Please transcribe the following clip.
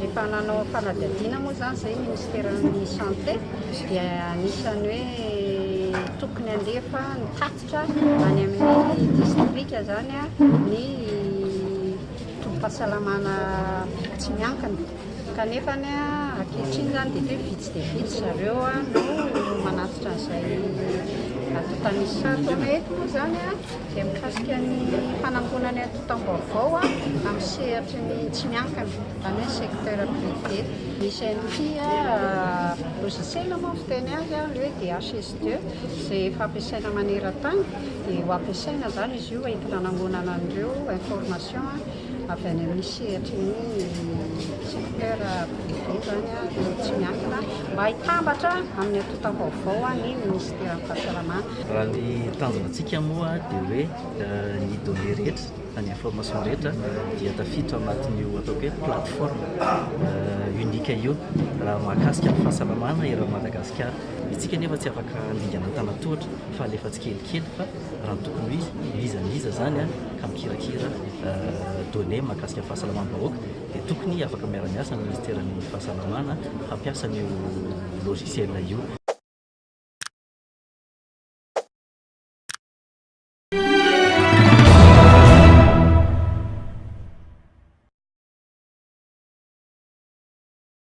Efa nanao fanadihadiana moa izany izay ny Minisiteran'ny Santé dia anisan'ny hoe tokony handefa ny tatitra any amin'ny distrika izany ny tobim-pahasalamana tsy miankina. Kanefa ny ankehitriny izany dia hoe vitsy dia vitsy zareo no manatitra an'izay atontan'isato. Eto moa izany izay mikasika ny fanangonana ny antontam-baovao amin'ny sehatry ny tsy miankina, izany hoe secteur privé. Misy an'ity logiciel moa ny fiteny azy ilay hoe DHS2 izay efa ampiasaina maneran-tany dia ho ampiasaina izany izy io entina hanangonana an'ireo information. avy any amin'ny sehatry ny secteur privé izany ireo tsy miankina mba hitambatra amin'ny antontam-baovao ny minisiteran'ny fahasalamana. Raha ny tanjona antsika moa dia hoe eh, ny données rehetra na ny information rehetra dia tafiditra ao anatin'io ataoko hoe plateforme eh, unique io raha mahakasika ny fahasalamana eran'i Madagasikara. Ny antsika nefa tsy afaka handingana an-tanan-tohatra fa alefa tsikelikely fa raha ny tokony ho izy, n'iza n'iza izany an, ka mikirakira données mahakasika ny fahasalamam-bahoaka dia tokony afaka miara-miasa amin'ny Minisiteran'ny Fahasalamana hampiasa an'io logiciel io.